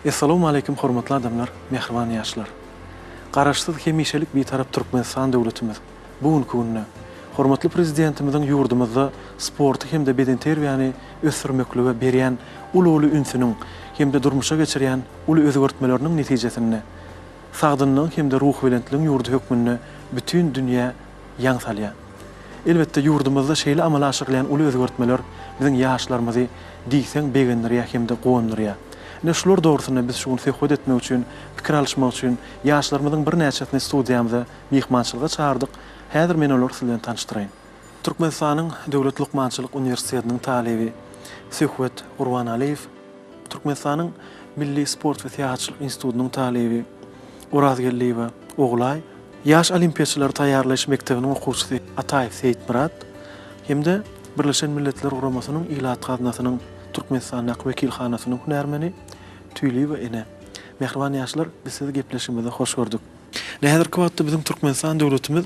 Essalawmaleýkim hormatly adamlar, mähriban ýaşlar! Garaşsyz, hemişelik Bitarap Türkmenistan döwletimiz bu günki günde hormatly Prezidentimiziň ýurdumyzda sporty hem-de bedenterbiýäni ösdürmeklige berýän uly-uly ünsüniň hem-de durmuşa geçirýän uly özgertmeleriniň netijesinde sagdynlygyň hem-de ruhubelentligiň ýurdy hökmünde bütin dünýä ýaň salýar. Elbetde, ýurdumyzda şeýle amala aşyrylýan uly özgertmeler biziň ýaşlarymyzy diýseň begendirýär hem-de guwandyrýar. Ine, şular dogrusynda biz şu gün söhbet etmek üçin, pikir alyşmak üçin ýaşlarymyzyň birnäçesini studiýamyza myhmançylyga çagyrdyk, häzir men olary siz bilen tanyşdyraýyn. Türkmenistanyň Döwlet lukmançylyk uniwersitetiniň talyby Söhbet Gurbanalyýew. Türkmenistanyň Milli sport we syýahatçylyk institutynyň talyby Orazgeldiýewa Ogulaý, Ýaş olimpiýaçylary taýýarlaýyş mekdebiniň okuwçysy Ataýew Seýitmyrat hem-de Birleşen Milletler Guramasynyň Ilat gaznasynyň Türkmenistandaky wekilhanasynyň hünärmeni Tüýliýewa ene. Mähriban ýaşlar, biz sizi gepleşigimize hoş gördük. Häzirki wagtda biziň Türkmenistan döwletimiz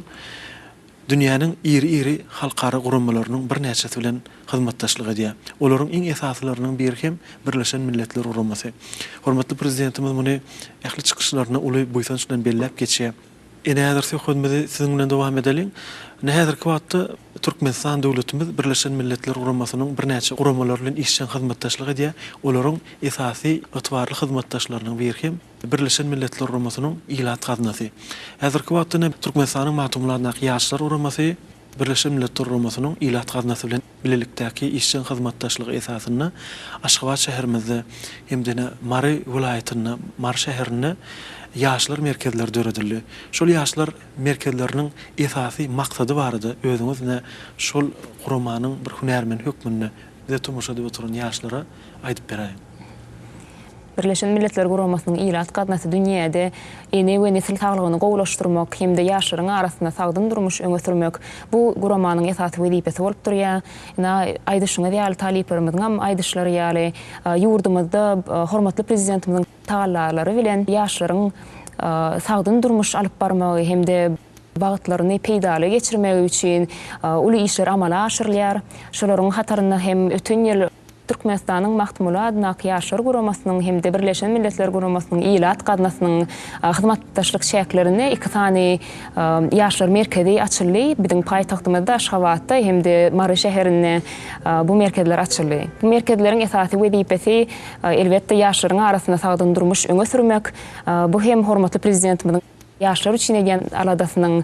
Dünýäniň iri-iri halkara guramalarynyň birnäçesi bilen hyzmatdaşlyk edýär. Olaryň iň esasylarynyň biri hem Birleşen Milletler Guramasy. Hormatly Prezidentimiz muny ähli çykyşlarynda uly buýsanç bilen belläp geçýär. Ine, häzir söhbedimizi siziň bilen dowam edeliň. Ine, häzirki wagtda Türkmenistan döwletimiz Birleşen Milletler Guramasynyň birnäçe guramalary bilen işjeň hyzmatdaşlyk edýär. Olaryň esasy ygtybarly hyzmatdaşlarynyň biri hem Birleşen Milletler Guramasynyň Ilat gaznasy. Häzirki wagtda ne Türkmenistanyň Magtymguly adyndaky Ýaşlar guramasy Birleşen Milletler Guramasynyň Ilat gaznasy bilen bilelikdäki işjeň hyzmatdaşlygy esasynda Aşgabat şäherimizde hem-de ne Mary welaýatynda, Mary şäherinde Ýaşlar merkezleri döredildi. Şol Ýaşlar merkezleriniň esasy maksady barada özüňiz ne şol guramanyň bir hünärmeni hökmünde bize tomaşa edip oturan ýaşlara aýdyp beräýiň. Birleşen Milletler Guramasynyň Ilat gaznasy dünýäde ene we nesil saglygyny gowulaşdyrmak hem-de ýaşlaryň arasynda sagdyn durmuş öňe sürmek, bu guramanyň esasy wezipesi bolup durýar. Ine, aýdyşyňyz ýaly, talyplarymyzyňam aýdyşlary ýaly, ýurdumyzda hormatly Prezidentimiziň tagallalary bilen ýaşlaryň sagdyn durmuş alyp barmagy hem-de, wagtlaryny peýdaly geçirmegi üçin uly işler amala aşyrylýar. Şolaryň hatarynda hem öten ýyl Türkmenistanyň Magtymguly adyndaky Ýaşlar guramasynyň hem-de Birleşen Milletler Guramasynyň ilat gaznasynyň hyzmatdaşlyk çäklerinde iki sany Ýaşlar merkezi açyldy. Biziň paýtagtymyzda Aşgabatda hem-de Mary şäherinde bu merkezler açyldy. Bu merkezleriň esasy wezipesi, elbetde, ýaşlaryň arasynda sagdyn durmuş öňe sürmek. Bu hem hormatly Prezidentimiziň. Ýaşlar üçin edýän aladasynyň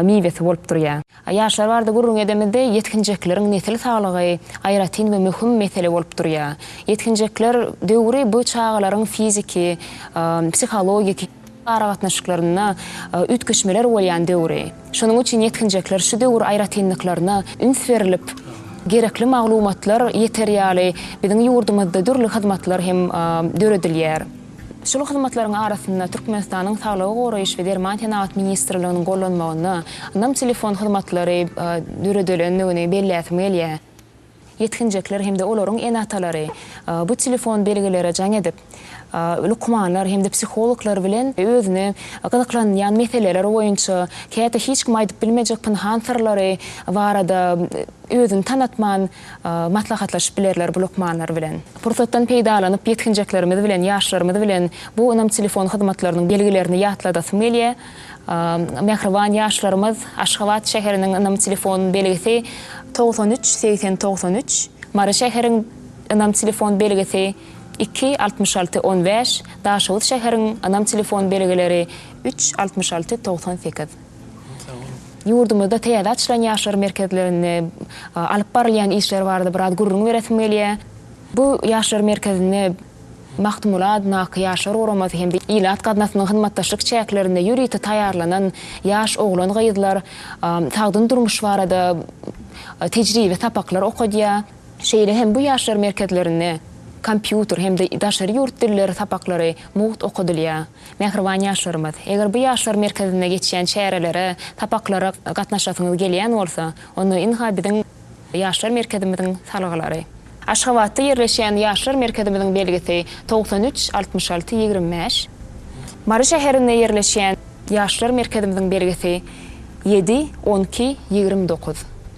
miwesi bolup durýar. Ýaşlar barada gürrüň edemizde, ýetginjekleriň nesil saglygy aýratyn we möhüm mesele bolup durýar. Ýetginjekler döwri bu çagalaryň fiziki, psihologik, aragatnaşyklarynda üýtgeşmeler bolýan döwri. Şonuň üçin ýetginjekler şu döwür aýratynlyklaryna üns berlip, gerekli maglumatlar ýeter ýaly biziň ýurdumyzda dürli hyzmatlar hem döredilýär. Şol hyzmatlaryň arasynda Türkmenistanyň Saglygy goraýyş we derman senagat ministrliginiň gollanmagynda Nam telefon hyzmatlary döredilendigini belläsim gelýär. Ýetginjekler hem-de olaryň ene-atalary bu telefon belgilere jaň edip, lukmanlar hem-de psihologlar bilen özüne gyzyklanýan meseleler boýunça, käte hiç kime aýdyp bilmejek pynhan syrlary barada özüni tanatman, Maslahatlaşyp bilerler bu lukmanlar bilen. Pursatdan peýdalanyp ýetginjeklerimiz bilen, ýaşlarymyz bilen bu ynam telefon hyzmatlarynyň belgilerini ýatladasym gelýär. Mähriban ýaşlarymyz, Aşgabat şäheriniň ynam telefon belgisi. Togsan üç, segsen togsan üç, Mary şäheriň ynam telefon belgisi, iki, altmyş alty, on bäş, Daşoguz şäheriň ynam telefon belgileri, üç, altmyş alty, togsan sekiz. Ýurdumyzda täze açylan ýaşlar merkezlerinde alyp barylýan işler barada biraz gürrüň beresim gelýär. Bu ýaşlar merkezinde Magtymguly adyndaky Ýaşlar guramasy hem-de ilat gaznasynyň hyzmatdaşlyk çäklerinde ýörite taýýarlanan ýaş oglan-gyzlar sagdyn durmuş barada tejribe sapaklar okadýar. Şeýle hem bu ýaşlar merkezlerinde kompýuter hem-de daşary ýurt dilleri sapaklary mugt okadylýar. Mähriban ýaşlarymyz! Eger bu ýaşlar merkezinde geçýän çärelere, sapaklara gatnaşasyňyz gelýän bolsa, onda ynha biziň Ýaşlar merkezimiziň salgylary. Aşgabatda ýerleşýän Ýaşlar merkezimiziň belgisi togsan üç altmyş alty ýigrimi bäş. Mary şäherinde ýerleşýän Ýaşlar merkezimiziň belgisi ýedi on iki ýigrimi dokuz.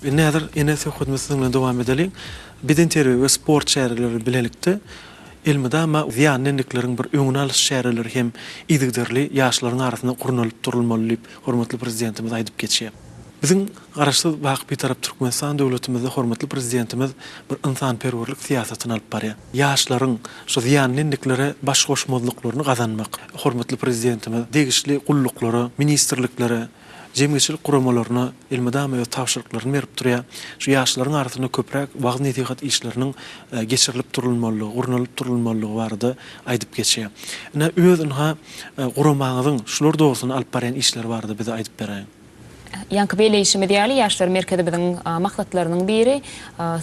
Indi häzir ene söhbetimizi siziň bilen dowam edeliň. Bedenterbiýe we sport çäreleri bilelikde elmydama zyýanly endikleriň bir öňüni alyş çäreleri hem yzygiderli ýaşlaryň arasynda gurnalyp durulmaly diýip, hormatly Prezidentimiz aýdyp geçýär. Biziň Garaşsyz, baky Bitarap Türkmenistan döwletimizde hormatly Prezidentimiz bir ynsanperwerlik syýasatyny alyp barýar. Ýaşlaryň şu zyýanly endiklere baş goşmazlyklaryny gazanmak, hormatly Prezidentimiz degişli gulluklara, ministrliklere, jemgyýetçilik guramalaryna elmydama öz tabşyryklaryny berip durýar. Şu ýaşlaryň arasynda köpräk wagyz-nesihat işleriniň geçirilip durulmalydygy, gurnalyp durulmalydygy barada aýdyp geçýär. Ine, öz ynha, guramaňyzyň şular dogrusynda alyp barýan işleri barada bize aýdyp beräýiň. Ýaňky belleýşimiz ýaly, Ýaşlar merkezimiziň maksatlarynyň biri,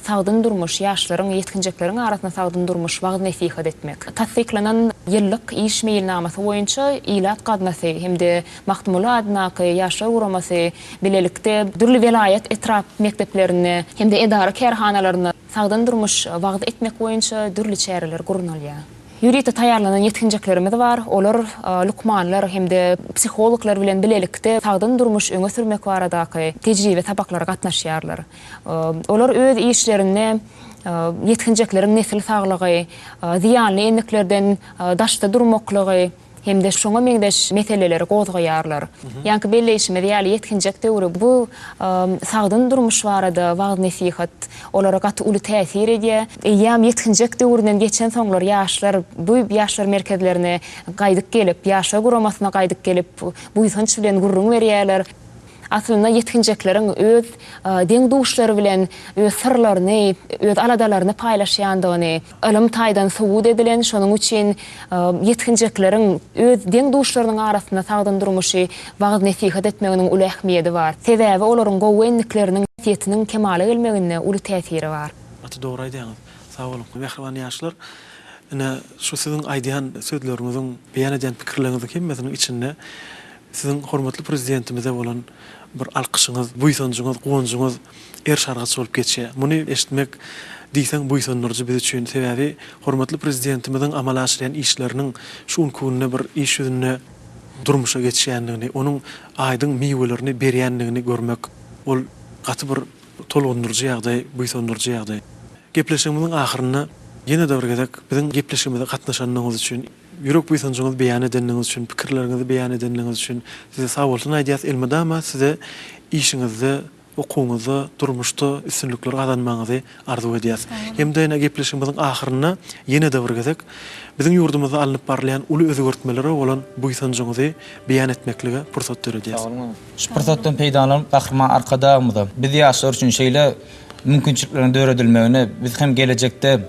sagdyn durmuş, ýaşlaryň, ýetginjekleriň arasynda sagdyn durmuş wagyz-nesihat etmek. Tassyklanan ýyllyk iş meýilnamasy boýunça Ilat gaznasy hem-de Magtymguly adyndaky Ýaşlar guramasy bilelikde dürli welaýat, etrap mekdeplerinde hem-de edara-kärhanalarynda, Sagdyn durmuş wagyz etmek boýunça dürli çäreler gurnalýar. Ýörite taýýarlanan ýetginjeklerimiz bar, olar lukmanlar hem-de psihologlar bilen bilelikde sagdyn durmuş öňe sürmek baradaky tejribe sabaklara gatnaşýarlar. Olar öz işlerinde ýetginjekleriň nesil saglygy, zyýanly endiklerden daşda durmaklygy, hem-de şoňa meňzeş meseleleri gozgaýarlar. Ýaňky belleýşimiz ýaly, ýetginjek döwri bu sagdyn durmuş barada wagyz-nesihat olara gaty uly täsir edýär. Eýýäm ýetginjek döwründen geçensoňlar ýaşlar bu ýaşlar merkezlerine gaýdyp gelip, Ýaşlar guramasyna gaýdyp gelip, buýsanç bilen gürrüň berýärler. Aslynda ýetginjekleriň öz deň-duşlary bilen öz syrlaryny, öz aladalaryny paýlaşýandygyny, Ylym taýdan subut edilen, şonuň üçin ýetginjekleriň öz deň-duşlarynyň arasynda sagdyn durmuşy wagyz-nesihat etmeginiň uly ähmiýedi bar. Sebäbi olaryň gowy endikleriniň häsiýetiniň kemala gelmeginde uly täsiri bar. Gaty dogry aýdýaňyz. Sag boluň, mähriban ýaşlar! Ine, şu siziň aýdýan sözleriňiziň, beýan edýän pikirleriňiziň hemmesiniň içinde Siziň hormatly Prezidentimize bolan bir alkyşyňyz, buýsanjyňyz, guwanjyňyz er-sargyç bolup geçýär. Muny eşitmek diýseň buýsandyryjy biz üçin. Sebäbi hormatly Prezidentimiziň amala aşyrýan işleriniň şu günki günde bir iş ýüzünde durmuşa geçýändigini, onuň aýdyň miwelerini berýändigini görmek, ol gaty bir tolgundyryjy ýagdaý, buýsandyryjy ýagdaý. Gepleşigimiziň ahyrynda ýene-de bir gezek biziň gepleşigimize gatnaşandygyňyz üçin, Ýürek buýsanjyňyzy beýan edenligiňiz üçin, pikirleriňizi beýan edenligiňiz üçin Size sag bolsun aýdýas. Elmydama Size işiňizde, okuwyňyzda, durmuşda üstünlikler gazanmagyňyzy arzuw edýäs. Hem-de ine gepleşigimiziň ahyrynda ýene-de bir gezek biziň ýurdumyzda alnyp barylýan uly özgertmelere bolan buýsanjyňyzy beýan etmeklige pursat döredýäs. Şu pursatdan peýdalanyp Gahryman Arkadagymyza, biz ýaşlar üçin şeýle mümkinçilikleriň döredilmegine, biz hem gelejekde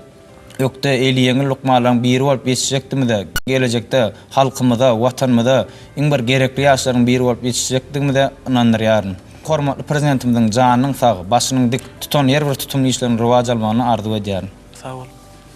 Ökde eli ýeňil lukmanlaryň biri bolup ýetişjekdigimize, gelejekde halkymyza, Watanymyza iň bir gerekli ýaşlaryň biri bolup ýetişjekdigimize ynandyrýaryn. Hormatly Prezidentimiziň janynyň sag, başynyň dik, tutan her bir tutumly işleriň rowaç almagyny arzuw edýärin. Sag bol.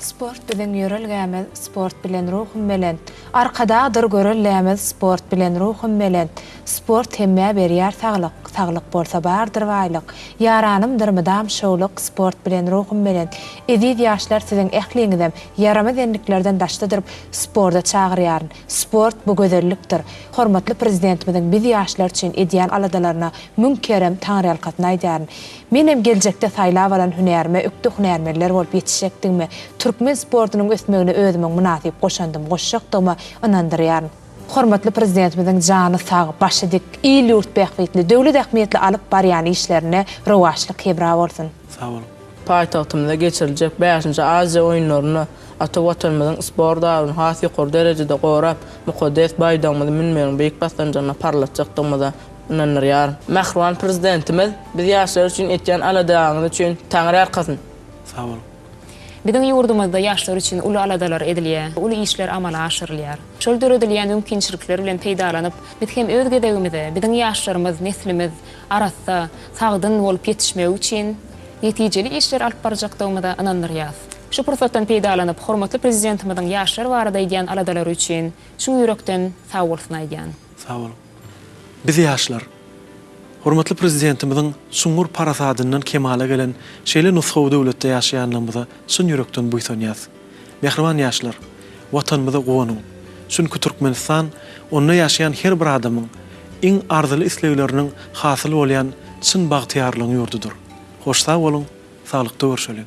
Sport biziň ýörelgämiz sport bilen ruhum belent Arkadagdyr göreldämiz sport bilen ruhum belent. Sport hemmä berýär saglyk, Saglyk bolsa bardyr baýlyk. Ýaranymdyr mydam şowluk, Sport bilen ruhum belent. Eziz ýaşlar siziň ähliňizem ýaramaz endiklerden daşda durup sporda çagyrýaryn. Sport bu gözellikdir. Hormatly Prezidentimiziň biz ýaşlar üçin edýän aladalaryna müň kerem taňryýalkasyn aýdaryn. Menem geljekde saýlap alan hünärime ökde hünärmenler bolup ýetişjekdigime, türkmen sportunyň ösmegine özümiň mynasyp goşandym goşjakdygyma ynandyrýaryn. Hormatly Prezidentimiziň jany sag, başy dik, il-ýurt bähbitli, döwlet ähmiýetli alyp barýan işlerine rowaçlyk hemra bolsun! Sag boluň! Paýtagtymyzda geçiriljek bäşinji Aziýa oýunlarynda ata Watanymyzyň sport abyny has ýokary derejede gorap, mukaddes baýdagymyzy münmegiň beýik basgançagyna parlatjakdygymyza ynandyrýaryn. Mähriban Prezidentimiz, biz ýaşlar üçin etýän aladaňyz üçin Taňry ýalkasyn! Sag boluň! Biziň ýurdumyzda ýaşlar üçin uly aladalar edilýär, uly işler amala aşyrylýar. Şol döredilýän mümkinçilikler bilen peýdalanyp, biz hem öz gezegimizde, biziň ýaşlarymyz, neslimiz arassa, sagdyn bolup ýetişmegi üçin netijeli işler alyp barjakdygymyza ynandyrýas. Şu pursatdan peýdalanyp, hormatly Prezidentimiziň ýaşlar barada edýän aladalary üçin çyn ýürekden sagbolsun aýdýan. Sag boluň. Biz ýaşlar, hormatly Prezidentimiziň çuňňur parasadyndan kemala gelen şeýle nusgawy döwletde ýaşaýanlygymyza çyn ýürekden buýsanýas. Mähriban ýaşlar, Watanymyza guwanyň! Çünki Türkmenistan onda ýaşaýan her bir adamyň iň arzyly islegleriniň hasyl bolýan çyn bagtyýarlygyň ýurdudyr. Hoş sag boluň, saglykda görşeliň!